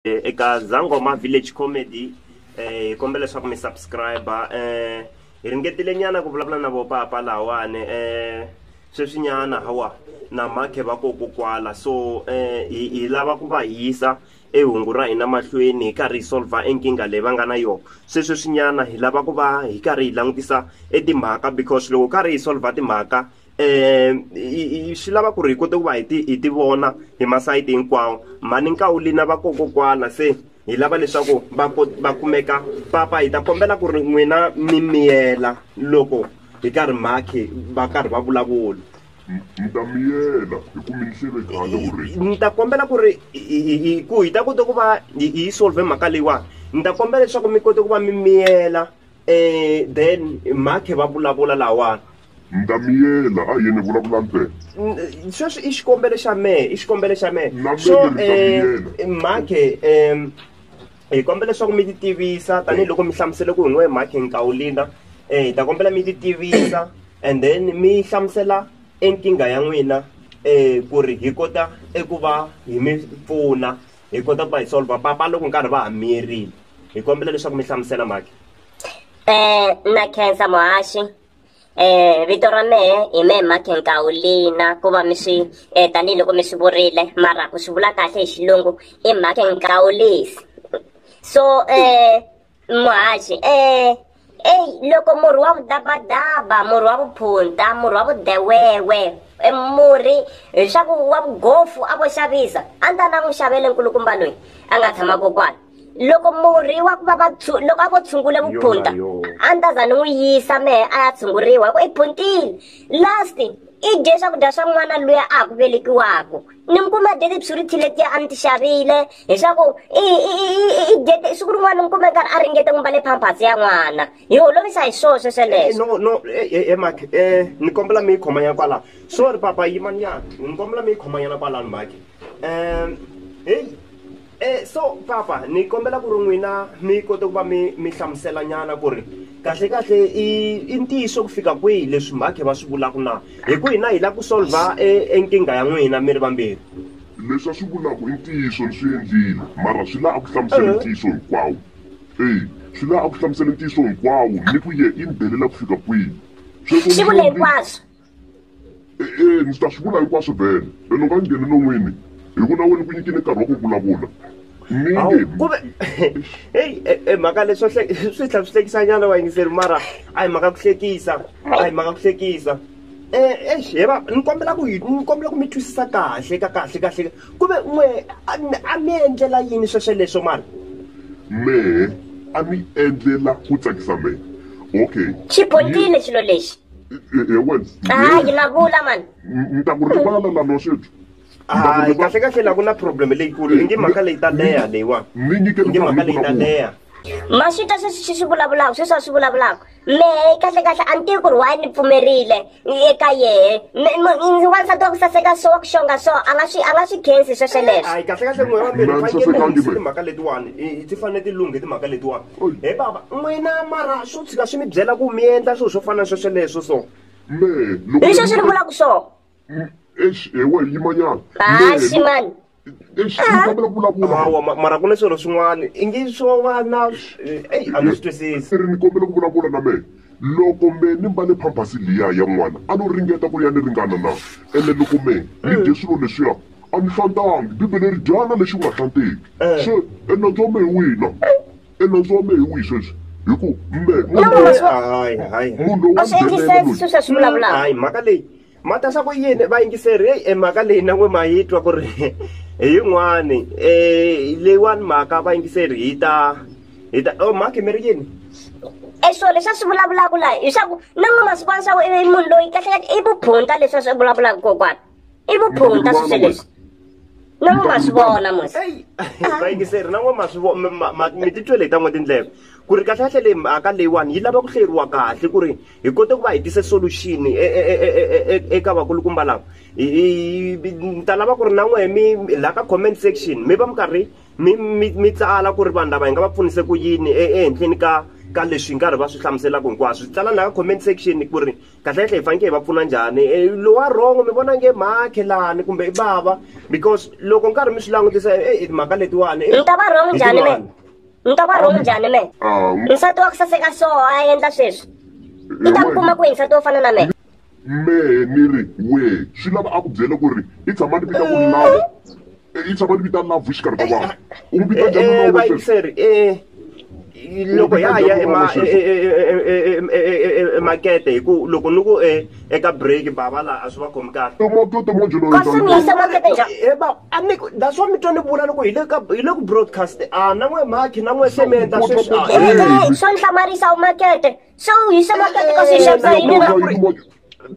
eh, eka zangoma village comedy eh, hi kombela leswaku mi subscribe eh, hi ringetile nyana ku vulavula na vopapa lawani eh, sweswi nyana hawa na makhe va koko kwala so eh, hi, hi lava ku va hisa e hungu ra hina mahlweni hi karhi hi solva e nkingha leyi va nga na yona se sweswinyana hi lava ku va hi karhi hi langutisa e timhaka because loko karhi hi solva timhaka um swi lava ku ri hi kote ku va hi ti hi ti vona hi masayiti hinkwawo mhani nkawulina va kokokwana se hi lava leswaku va va kumeka papa hi ta kombela ku ri n'wina mi miyela loko hi karhi makhi va karhi va vulavula mi ta miyela hi ku mi ni hlevekala ku ri ni ta kombela ku ri ku hi ta kota ku va hi yi solve mhaka leyiwani ni ta kombela leswaku mi kote ku va mi miyela um then makhe va vulavula lawani ni ta miyela a hi yini vulavula ntsena sweswi i xikombelo xa mehe i xikombelo xa mehe so um mhakhe um hi kombela leswaku mi ti tivisa tanihiloko mi hlamusele ku hi n'we mhakhe nkawulina um eh, hi ta kombela mi ti tivisa and then mi hlamusela enkingha ya n'wina um ku ri hi kota eku va hi mi pfuna hi kota ku va hi solva papa loko nkarhi va ha miyerile hi kombela leswaku mi hlamusela mhakhe um makhensa muhaxi eh vito ra mehe hi mehe mark nkawulina ku va mi swi um tanihiloko mi swi vurile mara ku swi vula kahle hi xilungu i mark nkawulisi so um muhaxi um eyi loko murhi wa vudabadaba murhi wa vuphunta murhi wa vudewewe e murhi leswaku wa vugofu a vo xavisa a ni ta na n'wi xavele nkulukumba loyi a nga tshama kokwana loko murhi wa ku va va loko a vo tshungule vuphunta a ni ta za ni n'wi yisa mehe a ya tshunguriwa hi ku i phuntile last i dye swakudya swa n'wana luya a ha ku velekiwaku ni mi kuma dye tibswiriti letiya a ni ti xavile hi swa ku i i dye siku rin'wana mi kume nkarhi a ringete n'wi mbale pampers ya n'wana hi holovisa hi swo swesweleswo no no emake eh, eh, eh, um ni kombela mi yi khomanyana kwalano sorry papa yimanyana ni kombela mi yi khomanyana kwalano make um heyi Eh, so papa ni kombela ku ri n'wina mi kote ku va mi mi hlamusela nyana ku ri kahle kahle i i ntiyiso ku fika kwihi leswi mhakhe va swi vulaka na hi ku hina hi lava ku solva e, e nkingha ya n'wina mi ri vambirhi leswi a swi vulaka i ntiyiso ni swi endlile mara swi laha a ku hlamusela eh. ntiyiso hinkwawo eyi swi laha a ku hlamusela ntiyiso hinkwawo ni ku ye i ni belela ku fika kwihi sweswo xivule hinkwaswo E, e, ndzi ta swi vula hinkwaswo vhele lelo ka ngheni non'wini hi ku na wena ku nyikini nkarhi wa ku vulavula kumbe heyi e, e, mhaka leswo swi tlhela swi hlekisa nyana wa yingiseri mara a hi mhaka ku hlekisa a hi mhaka ku hlekisa exi he va ni kombela ku ni kombela ku mi twisisa kahle ka kahle kahle ku ve n'we a mi endlela yini swesweleswo mara mehe a ni endlela ku tsakisa mehe okay xipotile xilo lexi hayi mavula mani ni ta ku rivala na loswithu hayi kahle kahle la ku na problem leyikulu i nge mhaka leyi ta leha leyiwani ni nyike nge mhaka leyi ta leha maswita sweswi swi swi vulavulaka sweswi a swi vulavulaka mehe kahle kahle a ni tivi ku ri waye ni pfumerile eka yehe wansati wa ku saseka so wa ku xonga so a nga swi a nga swi khensi swesweleswo kahle kahle n'we wa mbirhi fanekele mhaka letiwani ti fanele ti lunghe timhaka letiwani He bava, n'wina mara swo tshika swi mi byela ku mi endla swilo swo fana na swesweleswo so. Mehe loko. Hi sweswi ni vulaka swo. Eish he we yimanyana. Haxi mani. Eish ni kombela ku vulavula. Hawa mara ku na swilo swin'wana i ngi swo va na eyi a ni swi twisisi. Ni kombela ku vulavula na mehe. Loko me ni mbale phamphasi liya ya n'wana, a no ringeta ku ya ni ringana na? Ene loko me ni dye swilo leswiya, a ni hlantangi. Bibele ri, Dyana lexi u nga hlanteki. Se, e nandzu wa me hi wihi na? E nandzu wa me hi wihi sweswi? Hi ku, me, munhu loyi, munhu loyi wa nghenelela loyi. Hayi, mhaka leyi. mata swa ku yini vayingiseri heyi e mhaka leyi na n'we ma yi twa ku ri hi yin'wani um leyiwani mhaka vayingiseri hi ta hi ta o oh, mhaki mi ri yini e swilo leswi a swi vulavulaka laha hi swa ku na n'we masiku wani swa ku i munhu loyi kahlekahle i vuphunta leswi a swi vulavulaka kokwana i vuphunta swi swe leswi na n'we ma swi vona mos vayingiseri na n'we ma swi mi titwele hi ta n'we tindleve ku ri kahlekahle leyi mhaka leyiwani yi lava ku hleriwa kahle ku ri hi kote ku va hi tise solution eka vakulukumba lava ni ta lava ku ri na n'wehe mi laha ka comment section mi va mi karhi mi mi mi tsala ku ri vanhu lava hi nga va pfunise ku yini ehenhleni ka ka leswi nkarhi va swi hlamuselaka hinkwaswo tsala laha ka comment section ku ri kahlekahle hi fanekele hi va pfuna njhani lowa wrong mi vona nge makhelani kumbe i bava because loko nkarhi mi swi langutisa mhaka letiwani i ta va wrong njhani me ni nga va rhongi njhani mehe nsati wa ku saseka so a endla sweswi i ta ku kuma kwihi nsati wo fana na mehe mehe ni ri wehe swi lava a ku byele ku ri i tshama ni vita ku lava i tshama ni vita lava xikarhi ka vanhu u n'wi vita njhani vayiseri loko ya ya emakete hi ku loko ni ku um eka break bava laha a swi va khomi kahle kasi mi lahla makete njhani he ba a mi that's why mi twa ni vula loko hi le ka hi le ku broadcast a na n'we maki na n'we sementa sweswi a Hey, swo ni hlamarisa u makete se u hise makete kasi hi xavisa yini na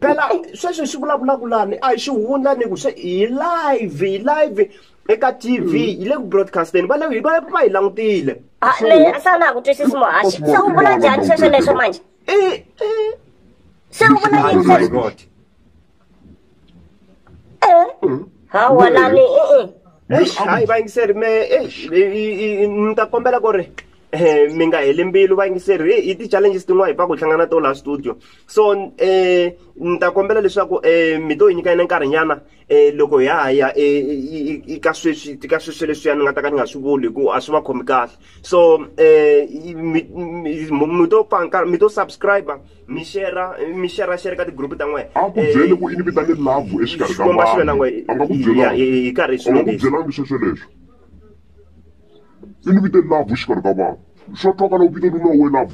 phela sweswi swi vulavulaka lani a hi xi hundza ni ku se hi live hi live eka tv hi le ku broadcasteni va le hi va va hi langutile Ah, le sana ku twisisi muhaxi se u vula njhani sweswo leswo manje Eh, eh. Se u vona yini Oh my leswi? God. Eh, ha wona ni eh, eh. Eish, hayi vayingiseri me eish, i- i- i- ni ta kombela ku ri eh, mi nga heli mbilu vayingiseri i- i ti-challenges tin'wana hi pfa ku hi hlangana na to laha studio so um ni ta kombela leswaku um mi to hi nyika yina nkarhinyana um loko ha ha ya eka sweswi ka sweswi leswiya ni nga ta ka ni nga swi vuli hi ku a swi va khomi kahle so um mi to pfanka mi to subscribe mi shera mi shera shere ka tigroup ta n'wina a ku byele ku i ni vitane love exikarhi ka vanhu a nga ku byelanga hi karhi hi swilo leswi a nga ku byelanga sweswo leswo i ni vite love exikarhi ka vanhu swa twakala u vito lulawe love